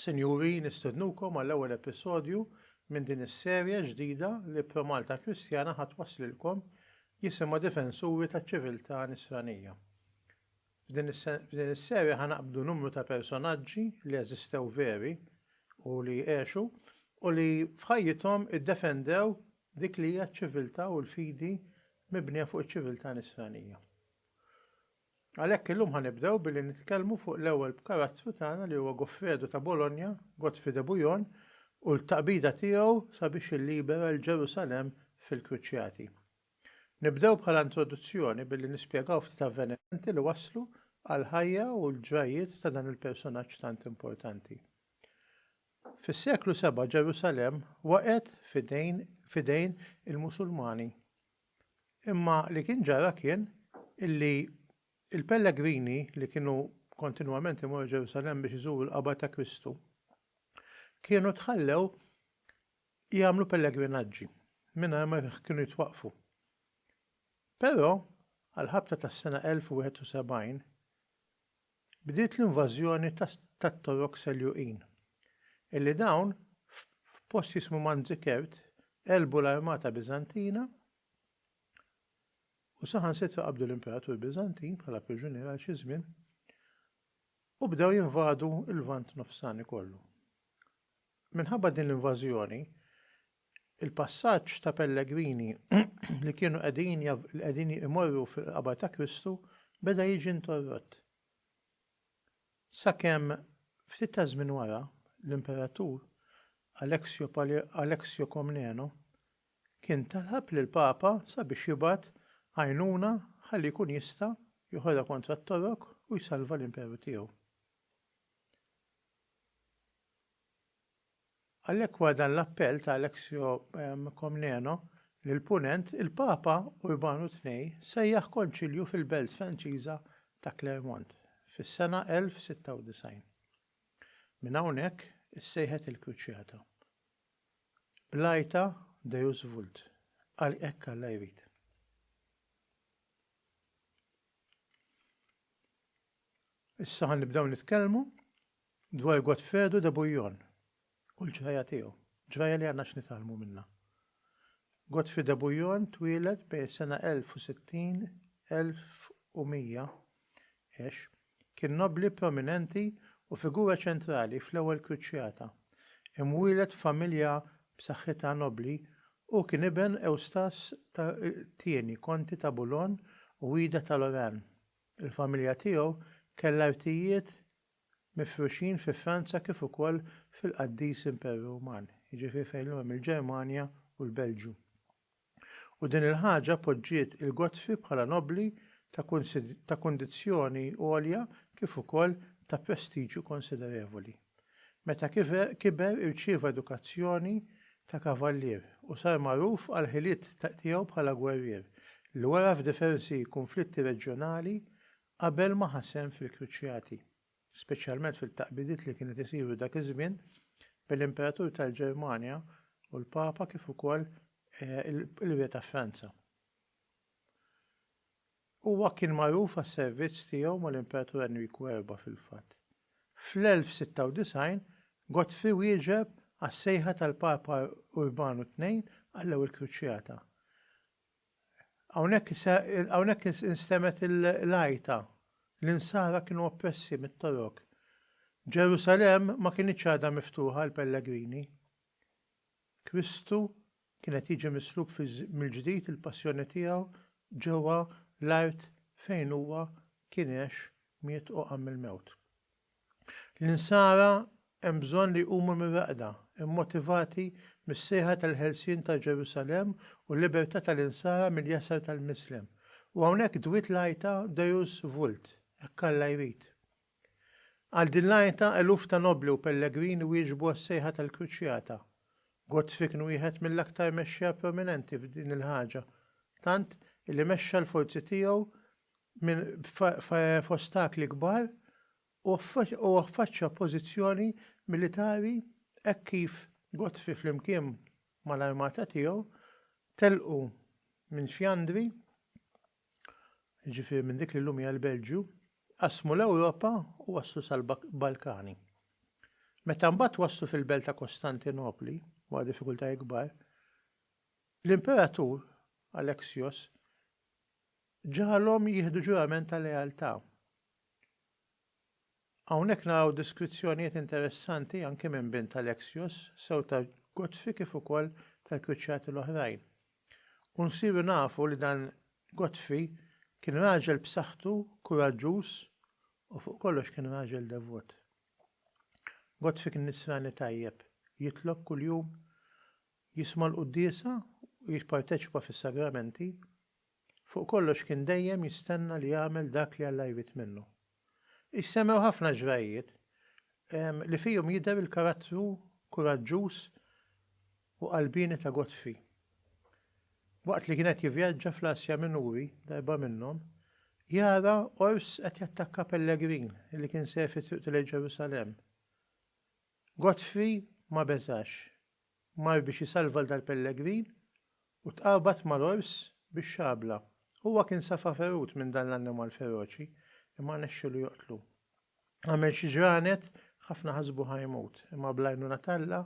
Sinjuri, nistednukom għall-ewwel episodju minn din is-serje ġdida li ProMalta Kristjana ħa twasslilkom jisimha Difensuri taċ-Ċiviltà Nisranija. F'din is-serje ħa naqbdu numru ta' personaġġi li eżistew veri u li għexu u li f'ħajjithom iddefendew dik li hija ċ-ċiviltà u l-fidi mibnija fuq iċ-ċiviltà nisranija. Għalhekk illum ħa nibdew billi nitkellmu fuq l-ewwel b'karattru tagħna li huwa Goffredo ta' Bologna, Godfrey de Bouillon, u l-taqbida tiegħu sabiex illibera l-Ġerusalemm fil-Kruċjati. Nibdew bħala introduzzjoni billi nispjegaw ftit avvenimenti li wasslu għall-ħajja u l-ġrajjiet ta' dan il-persunaġġ tant importanti. Fis-seklu seba' Ġerusalemm waqgħet f'idejn f'idejn il-Musulmani. Imma li kien ġara kien illi l-pellegrini li kienu kontinwament imorru Ġerusalemm biex iżuru l-qabar ta' Kristu kienu tħallew jagħmlu pellegrinaġġi mingħajr ma kienu jitwaqqfu. Però, għall-ħabta tas-sena 1071, bdiet l-invażjoni tat-Torok Seljuqin, illi dawn, f'post jismu Manzikert, għelbu l-armata Biżantina u saħansitra qabdu l-imperatur Biżantin bħala priġunier għal xi żmien u bdew jinvadu l-Lvant Nofsani kollu. Minħabba din l-invażjoni, il-passaġġ ta' pellegrini li kienu qegħdin qegħdin imorru fil-qabar ta' Kristu beda jiġi interrott. Sakemm ftit taż-żmien wara, l-Imperatur Aleksio Aleksio Komneno kien talab lill-Papa sabiex jibgħat għajnuna ħalli jkun jista' joħodha kontra t-Torok u jsalva l-Imperu tiegħu. Għalhekk wara dan l-appell ta' Alexio Comneno lill-Punent, il-Papa Urbanu ii sejjaħ Konċilju fil-belt Franċiża ta' Clermont fis-sena 1096. Minn hawnhekk issejħet il-Kruċjata bl-għajta Deus vult, Għal hekk Alla jrid. Issa ħa nibdew nitkellmu dwar Godfredo de Bouillon u l-ġrajja tiegħu, ġrajja li għandna x'nitgħallmu minnha. Godfrey de Bouillon twieled bejn is-sena 1060 1100 għex kien nobbli prominenti u figura ċentrali fl-Ewwel Kruċjata. Imwieled f'familja b'saħħitha nobbli, hu kien iben Ewstas ta' Tieni, Konti ta' Boulogne u Ida ta' Lorraine. Il-familja tiegħu kellha artijiet mifruxin fi Franza kif ukoll fil-qaddis Imperu Ruman, jiġifieri fejn llum hemm il-Ġermanja u l-Belġju. U din il-ħaġa poġġiet il-Godfrey bħala nobbli ta' ta' kundizzjoni għolja kif ukoll ta' prestiġju konsiderevoli. Meta kiber irċieva edukazzjoni ta' kavallier u sar magħruf għall-ħiliet tiegħu bħala gwerrier li wera f'difersi kunflitti reġjonali qabel ma ħa sehem fil-Kruċjati, speċjalment fil-taqbidiet li kienet isiru dak iż-żmien bejn l-Imperatur tal-Ġermanja u l-Papa kif ukoll il-Re ta' Franza. Huwa kien magħruf għas-servizz tiegħu mal-Impratur Enriku Erba' fil-fatt. Fl-1096, Godfrey wieġeb għas-sejħa tal-Papa Urbanu Tnejn għall-Ewwel Kruċjata. Hawnhekk instemgħet l-għajta, l-Insara kienu oppressi mit-Torok. Ġerusalemm ma kinitx għadha miftuħa għall-pellegrini. Kristu kien qed jiġi mislub mill-ġdid il-passjoni tiegħu ġewwa l-art fejn huwa kien għex, miet u qam mill-mewt. L-insara hemm bżonn li jqumu mir-raqda, immotivati mis-sejħa tal-ħelsien ta' Ġerusalemm u l-libertà tal-insara mill-jasar tal-mislem. U hawnhekk dwiet l-għajta Deus vult, hekk Alla jrid. Għal din l-għajta eluf ta' nobbli u pellegrini wieġbu għas-sejħa tal-Kruċjata. Gottfried kien wieħed mill-aktar mexxejja prominenti f'din il-ħaġa, tant li mexxa l-forzi tiegħu minn f'ostakli kbar u affaċċja oppożizzjoni militari hekk kif Gottfried flimkien mal-armata tiegħu telqu minn Fjandri jiġifieri minn dik li llum hija l-Belġju, qasmu l-Ewropa u waslu sal-Balkani. Meta mbagħad waslu fil-belt ta' Kostantinopli, wara diffikultajiet kbar, l-imperatur Alexios ġagħalhom jieħdu ġurament ta' lealtà. Hawnhekk naraw deskrizzjonijiet interessanti anki minn bint Alexios, sew ta' Godfrey kif ukoll tal-kwiċċati l-oħrajn. U nsiru nafu li dan Godfrey kien raġel b'saħħtu, kuraġġuż u fuq kollox kien raġel devot. Godfrey kien Nisrani tajjeb, jitlob kuljum, jisma' l-quddiesa u jipparteċipa fis-sagramenti, fuq kollox kien dejjem jistenna li jagħmel dak li Alla jrid minnu. Issemmew ħafna ġrajjiet li fihom jidher il-karattru kuraġġuż u qalbieni ta' Godfrey. Waqt li kien qed jivvjaġġa fl-Asja Minuri, darba minnhom, jara ors qed jattakka pellegrin li kien ser fi triqtu lejn Ġerusalemm. Godfrey ma beżax Mar biex isalva 'l dal-pellegrin u tqabad mal-ors bix-xabla. Huwa kien safa ferut minn dan l-annimal feroċi, imma rnexxielu joqtlu. Għamel xi ġranet, ħafna ħasbu ħa jmut, imma bl-għajnuna t'Alla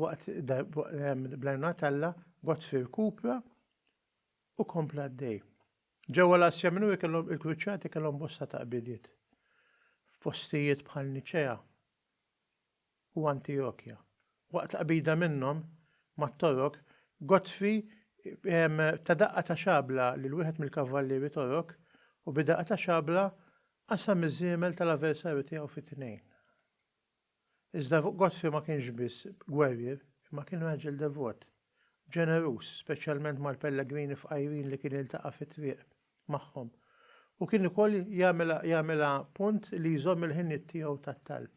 waqt bl-għajnuna t'Alla Godfrey irkupra u kompla għaddej. Ġewwa l-Asja Minuri kellhom il-Kruċjati kellhom bosta taqbidiet f'postijiet bħal Niċea. u Antijokja. Waqt l-qbida minnhom mat-Torok, Godfrey ta daqqa ta' xabla lil wieħed mill-kavvallieri Torok u bid-daqqa ta' xabla qasam iż-żiemel tal-aversarju tiegħu fi tnejn. Iżda Godfrey ma kienx biss gwerrier imma kien raġel devot, ġeneruż, speċjalment mal-pellegrini fqajrin li kien jiltaqa' fit-triq magħhom, u kien ukoll jagħmilha punt li jżomm il-ħinijiet tiegħu tat-talb.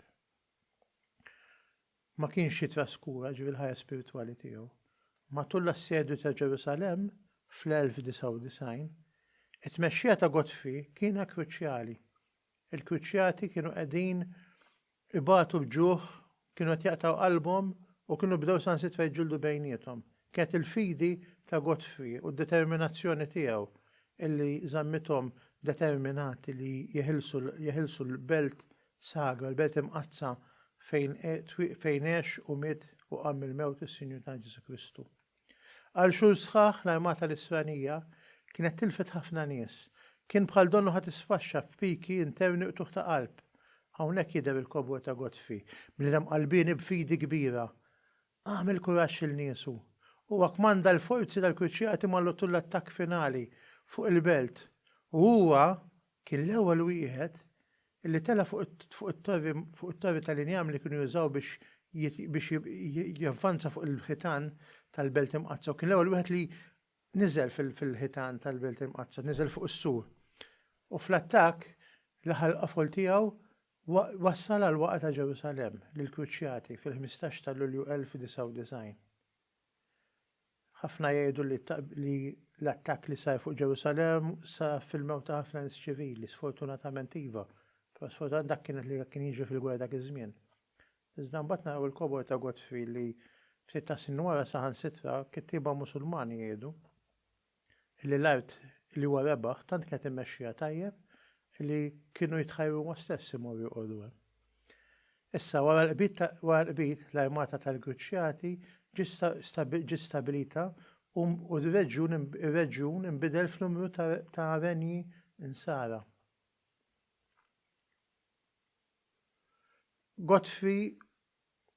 ma kienx jitraskura, jiġifieri l-ħajja spiritwali tiegħu. Matul l-assedju ta' Ġerusalemm fl-1099, it-tmexxija ta' Godfrey kiena kruċjali. Il-kruċjati kienu qegħdin ibatu l-ġuħ, kienu qed jaqtgħu qalbhom u kienu bdew sansitra jiġġieldu bejniethom. Kienet il-fidi ta' Godfrey u d-determinazzjoni tiegħu li żammithom determinati li jeħilsu l-belt Sagra, l-Belt Imqaddsa fejn fejn għex u miet u qam mill-mewt is-Sinjur tagħna Ġesù Kristu. Għal xhur sħaħ l-armata nisranija kienet tilfet ħafna nies. Kien bħal donnu ħa tisfaxxa f'piki interni qtugħ ta' qalb. Hawnhekk jidher il-kobor ta' Godfrey, bniedem qalbieni b'fidi kbira. Għamel kuraġġ lil niesu. Huwa kmanda l-forzi tal-Kruċjati mal-għotul l-attakk finali fuq il-belt u huwa kien l-ewwel wieħed Illi tela' fuq it-torri tal-injam li kienu jużaw biex javvanza fuq il-ħitan tal-Belt Imqaddsa u kien l-ewwel wieħed li niżel fil-ħitan tal-Belt Imqaddsa, niżel fuq is-sur. U fl-attakk, l-aħħar il-qofol tiegħu wassal għall-waqgħa ta' Ġerusalemm, lill-Kruċjati, fil-ħmistax ta' Lulju 1099. Ħafna jgħidu li l-attakk li sar fuq Ġerusalemm sar fil-mewt ta' ħafna nies ċivili. Sfortunatament iva, però sfortunatament dak kien li kien jiġri fil-gwerra dak iż-żmien. Iżda mbagħad naraw il-kobor ta' Godfrey li ftit tas-snin wara saħansitra kittieba Musulmani jgħidu, li l-art li huwa rebaħ tant kienet immexxija tajjeb li kienu jitħajru huma stess imorru jqogħdu hemm. Issa, wara l-qbid, l-armata tal-Gruċjati ġiet stabbilita u r-reġjun inbidel f'numru ta' renji Nsara. Godfrey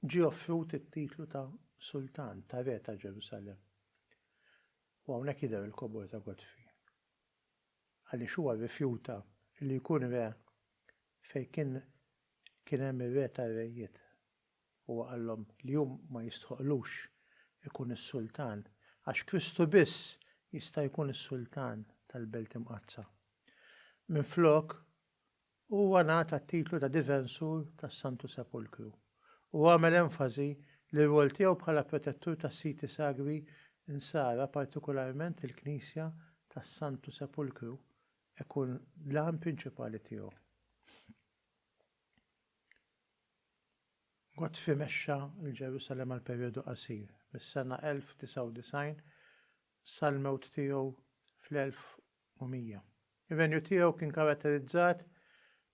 ġie offrut it-titlu ta' sultan, ta' re ta' Ġerusalemm. U hawnhekk jidher il-kobor ta' Godfrey. Għaliex huwa rrifjuta li jkun re fejn kien kien hemm ir-Re tar-Rejiet. Huwa qallhom li hu ma jistħoqqlux ikun is-Sultan għax Kristu biss jista' jkun is-Sultan tal-Belt Imqaddsa. Minflok, Huwa ngħata t-titlu ta' Difensur tas-Santu Sepulkru u għamel enfasi li r-rwol tiegħu bħala protettur tas-siti sagri Nsara, partikularment il-Knisja tas-Santu Sepulkru, ikun l-għan prinċipali tiegħu. Godfrey mexxa l-Ġerusalemm għal perjodu qasir, mis-sena 1099 sal-mewt tiegħu fl-1000 Mumija. Ir-renju tiegħu kien karatterizzat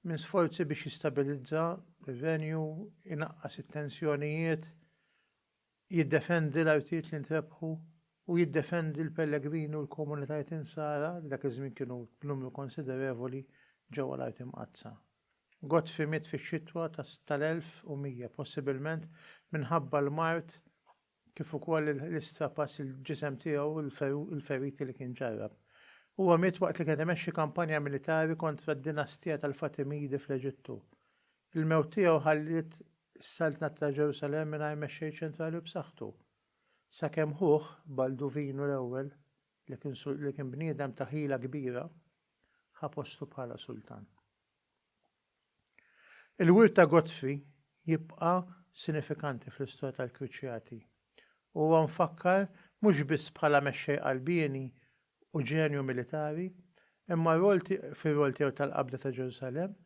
minn sforzi biex jistabilizza r-renju, inaqqas it-tensjonijiet, jiddefendi l-artijiet li ntrebħu, u jiddefendi l-pellegrini u l-komunitajiet Insara li dak iż-żmien kienu b'numru konsiderevoli ġewwa l-Art Imqaddsa. Godfrey miet fix-xitwa tal-1100, possibilment minħabba l-mard kif ukoll il-istrapass il-ġisem tiegħu u l-feriti li kien ġarrab. Huwa miet waqt li kien qed imexxi kampanja militari kontra d-dinastija tal-Fatimidi fl-Eġittu. Il-mewt tiegħu ħalliet is-Saltnat ta' Ġerusalemm mingħajr mexxej ċentrali b'saħħtu, sakemm ħuh, Balduvinu l-Ewwel, li kien bniedem ta' ħila kbira, ħa postu bħala sultan. Il-wirt ta' Gozzi jibqa' sinifikanti fl-istorja tal-Kwiċċjati. Huwa mfakkar mhux biss bħala mexxej qalbieni u ġenju militari, imma rwol fir-rwol tiegħu tal-qabda ta' Ġerusalemm,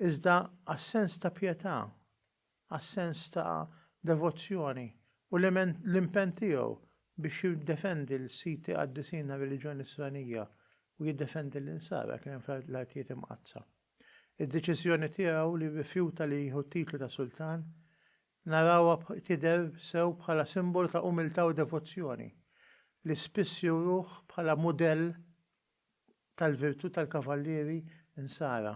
iżda għas-sens ta' pjetà, għas-sens ta' devozzjoni u l-impenn tiegħu biex jiddefendi l-siti qaddisin għar-reliġjon Nisranija u jiddefendi l-Insara kien hemm fl-Artijiet Imqaddsa. Id-deċiżjoni tiegħu li rrifjuta li jieħu t-titlu ta' sultan narawha tidher sew bħala simbolu ta' umiltà u devozzjoni, li spiss juruh bħala mudell tal-virtù tal-kavallieri Nsara.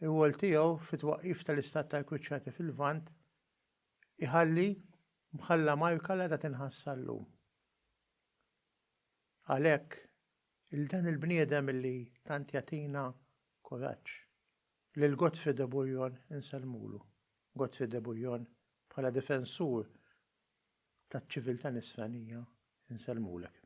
Ir-rwol tiegħu fit-twaqqif tal-istat tal-Kruċjati fil-Lvant iħalli mħalla marka li għadha tinħass sal-lum. Għalhekk, 'il dan il-bniedem illi tant jagħtina kuraġġ, lil Godfrey de Bouillon insellmulu. Godfrey de Bouillon bħala difensur taċ-ċiviltà nisranija insellmulek.